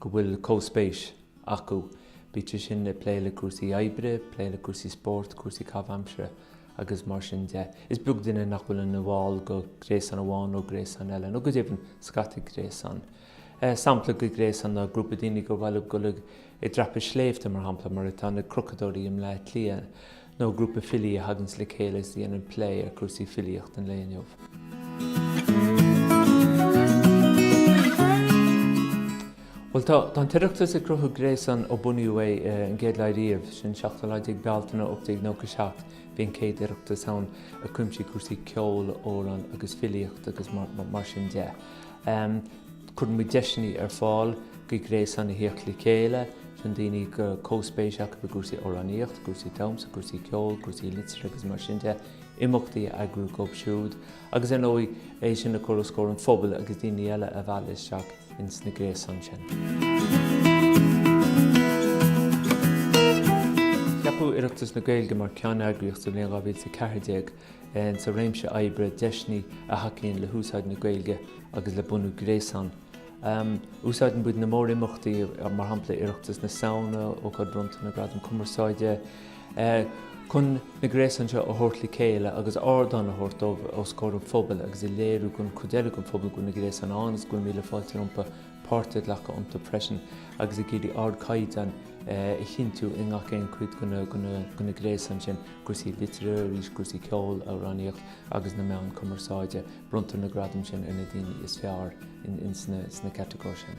go bhfuil comhspéis acu, bíodh sé sin ag plé le cúrsaí oibre, plé le cúrsaí spóirt, cúrsaí caitheamh-aimsire agus mar sin de. Is beag duine nach bhfuil ina bhall de ghréasán amháin nó gréasán eile, nó go deimhin scata gréasán. Sampla de ghréasán ná grúpa daoine gur maith leo dul ag dreapadh sléibhte, mar shampla, mar atá na crochadóirí i mBleá Cliath. nó grúpa filí a thaganns le chéile is a dhéanann plé ar chúrsaí filíochta an lae inniu. Bhuel, tá an tOireachtas ag cruthú gréasán ó bunaíodh é an chéad lá riamh, sin an 17 lá Bealtaine 1897. Bhí an chéad Oireachtas ann a chuimsigh cúrsaí ceoil, amhráin agus filíochta agus mar sin de. Cuireann muid deiseanna ar fáil do ghréasáin a theacht le chéile chun daoine go comhspéis acu i gcúrsaí amhránaíocht, cúrsaí damhsa, cúrsaí ceoil, cúrsaí liteartha agus mar sin de, imeachtaí a eagrú dóibh siúd agus ar ndóigh é sin a chur os comhair an phobail agus daoine eile a mhealladh isteach ins na gréasáin sin. Ceapadh Oireachtas na Gaeilge mar cheanneagraíocht sa bhliain 2014 sa réimse oibre deiseanna a thacaíonn le húsáid na Gaeilge agus le bunú gréasán. Úsáideann muid na mórimeachtaí, mar shampla Oireachtas na Samhna, Ócáid Bhronnta na nGradam Cumarsáide, chun na gréasáin seo a thabhairt le chéile agus ardán a thabhairt dóibh os comhair an phobail agus a léiriú don chuid eile den phobal go bhfuil na gréasáin ann agus go bhfuil míle fáilte rompu páirt a ghlacadh iontu freisin agus ag iarraidh ardchaighdeán a chinntiú i ngach aon chuid de na gréasáin sin. cúrsaí liteartha, arís cúrsaí ceoil, amhránaíocht agus na meáin cumarsáide. Bronntar na gradaim sin ar na daoine is fearr ins na catagóirí sin.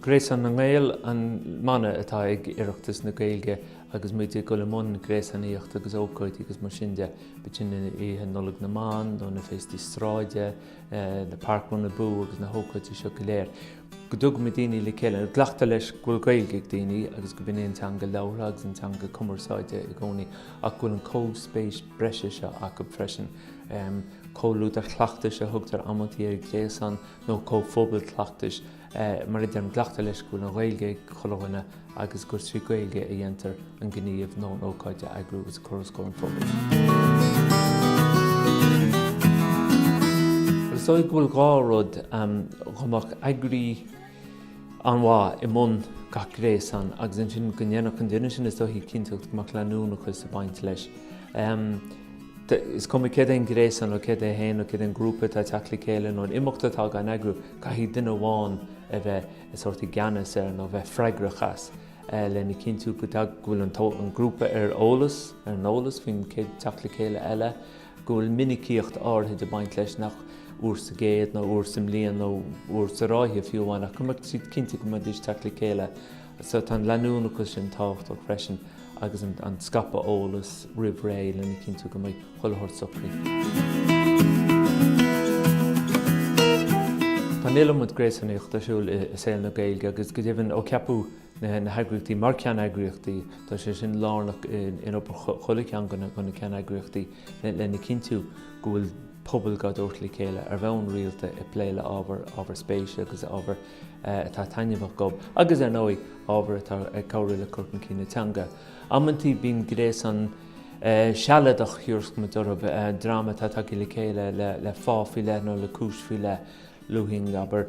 Gréasán na nGael an mana atá ag Oireachtas na Gaeilge agus muid ag dul i mbun gréasánaíocht agus ócáidí agus mar sin de, bíodh sin ina oíche Nollag na mBan nó na féastaí sráide, eh, na parkrun abú agus na hócáidí seo go léir. go dtugann muid daoine le chéile, glactar leis go bhfuil Gaeilge ag daoine agus gurb in é an teanga labhartha agus an teanga cumarsáide i gcónaí ach go bhfuil an comhspéis breise seo acu freisin, comhluadar chleachtais a thugtar amantaí ar ghréasán nó comhphobail cleachtais, mar a deirim, glactar leis go bhfuil an Ghaeilge ag chuile dhuine. agus gur trí Gaeilge a dhéantar an gníomh nó an ócáid a eagrú agus a chur os comhair an phobail. Is dóigh go bhfuil dhá rud, go mbeadh, eagraí an-mhaith i mbun gach gréasáin agus ansin go ndéanfadh an duine sin is dóigh cinnteacht go mbeadh leanúnachas ag baint leis. Is cuma céard é an gréasán nó céard é an téama nó céard é an grúpa atá ag teacht le chéile nó an imeacht atá dhá n-eagrú, caithfidh duine amháin a bheith. a bheith i gceannas air nó a bheith freagrach as lena chinntiú go bhfuil an grúpa ar eolas, ar an eolas faoin chéad teacht le chéile eile, go bhfuil minicíocht áirithe ag baint leis nach uair sa gcéad nó uair sa mbliain nó uair sa ráithe fiú amháin ach go mbeadh siad cinnte go mbeidís ag teacht le chéile. So tá an leanúnachas sin tábhachtach freisin. agus an scaipeadh eolais roimh ré lena chinntiú go mbeidh chuile shórt socraithe. Tá an iliomad gréasánaíocht ar siúl i saol na Gaeilge agus go deimhin ó ceapadh na heagraíochtaí mar ceanneagraíochtaí, tá sé sin lárnach in obair chuile cheann de na ceanneagraíochtaí lena chinntiú go bhfuil pobail dhá dtabhairt le chéile ar bhonn rialta ag plé le ábhar ábhar spéise agus ábhar atá taitneamhach dhóibh agus, ar ndóigh, ábhar atá ag cabhrú le cur chun cinn na teanga. Amantaí bíonn gréasán sealadach thar a mhalairt, dream atá tagtha le chéile le fáth faoi leith nó le cúis faoi leith. Luaim, abair,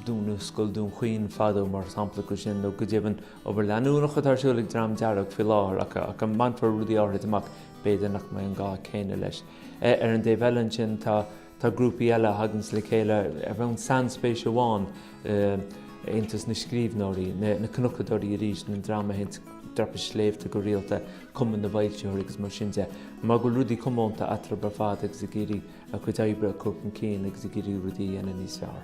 dúnadh Scoil Dún Chaoin fadó mar shampla de sin, nó go deimhin obair leanúnach atá ar siúl ag Dream Dearg faoi láthair, ach a mbainfear rudaí áithrid amach, b'fhéidir nach mbeidh an gá céanna leis. Ar an dtaobh eile ansin tá. Tá grúpaí eile a thaganns le chéile ar bhonn sainspéise amháin, Aontas na Scríbhneoirí, Na Cnocadóirí arís, an dream a théanns dreapadh sléibhte go rialta, Cumann na bhFoilsitheoirí agus mar sin de, mar go bhfuil rudaí comónta eatarthu ar fad agus ag iarraidh a gcuid oibre a chur chun cinn agus ag iarraidh rudaí a dhéanamh níos fearr.